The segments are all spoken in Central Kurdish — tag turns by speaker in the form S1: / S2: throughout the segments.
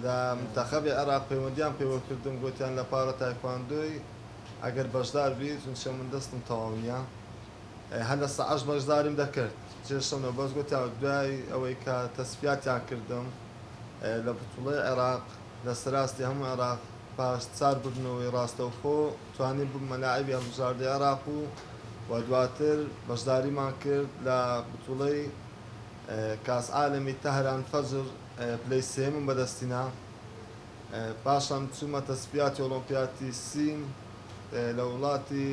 S1: لە منتەخەبی عێراق پەیوەندیان پێوە کردم گۆتیان لە پارە تایکواندۆی ئەگەر بەشدار بی چونچە من دەستم تەواو نیە هەر لە سەعەش بەشداریم دەکرد جێ شەونە بەس گۆتیان دوای ئەوەی کە تەسفیاتیان کردم لە بتوڵەی عێراق لە سەراستی هەموو عێراق پاش چار بردنەوەی ڕاستەوخۆ توانیم ببمە لاعیبی هەڵبژاردەی عێراق و و دواتر بەشداریمان کرد لە بتوڵەی کاس عالەمی تەهران فەجر پلەی سێیەمم بەدەستی نا پاشان چوومە تەسپیاتی ئۆڵۆمپیاتی سین لە وڵاتی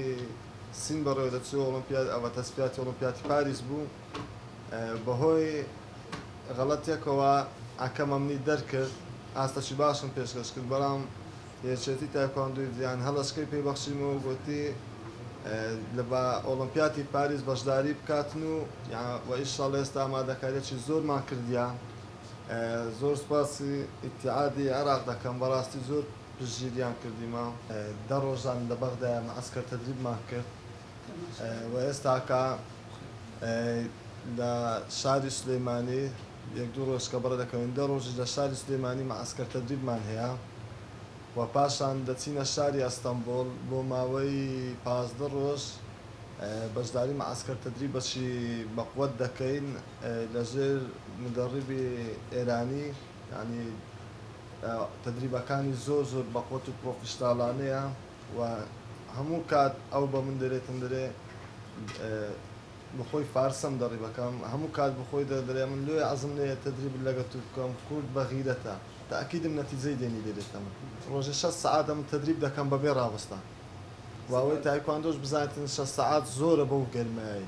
S1: سین بەڕێوە دەچوو ئۆڵۆمپیاد ئەوە تەسپیاتی ئۆڵۆمپیاتی پاریس بوو بەهۆی غەڵەتێکەوە ئاکەمەمنی دەرکرد ئاستەکی باشم پێشکەش کرد بەڵام یەکێتی تایکواندۆی جیهان هەڵەشکەی پێ بەخشیم و گوتی لە با ئۆڵۆمپیاتی پاریس بەشداری بکاتن و و ئیشاڵ ئێستا ئامادەکاریی زۆرمان کردیا زۆر سپاسی ئیتعادی عێراق دەکەم بەڕاستی زۆر پژیریان کردیمە دە ڕۆژان لە بەغدا مەعسکەر تەدریبمان کرد و ئێستاکە لە شاری سلەیمانی یەک دوو ڕۆژ سکەبڕە دەکەوین، دە ڕۆژیش لە شاری سلێمانی مەعەسکەر تەدریبمان هەیە و پاشان دەچینە شاری ئەستەنبوڵ بۆ ماوەی پازدە ڕۆژ بەشداری مەعەسکەر تەدریبەکی بە قوەت دەکەین لە ژێر مدەڕیبی ئێرانی یانی تەدریبەکانی زۆر زۆر بە قوەت و پڕۆفیشناڵانەیە و هەموو کات ئەو بە من دەرێ تەندرێ بخۆی فارسم دەڕی بەکام هەموو کات بخۆی دە دەرێ من لۆیە عەزم لێیە تەدریب لەگە تو بکەم کورد بە غیرەتە تاکیدم نەتیجەی دێنی لێ دێتە من ڕۆژێ شەست سەعات ئەمن تەدریب دەکەم بەبێ ڕاوەستان و ئەوەی تایکواندۆش بزانێتن شەست سەعات زۆرە بەو گەرمایەی.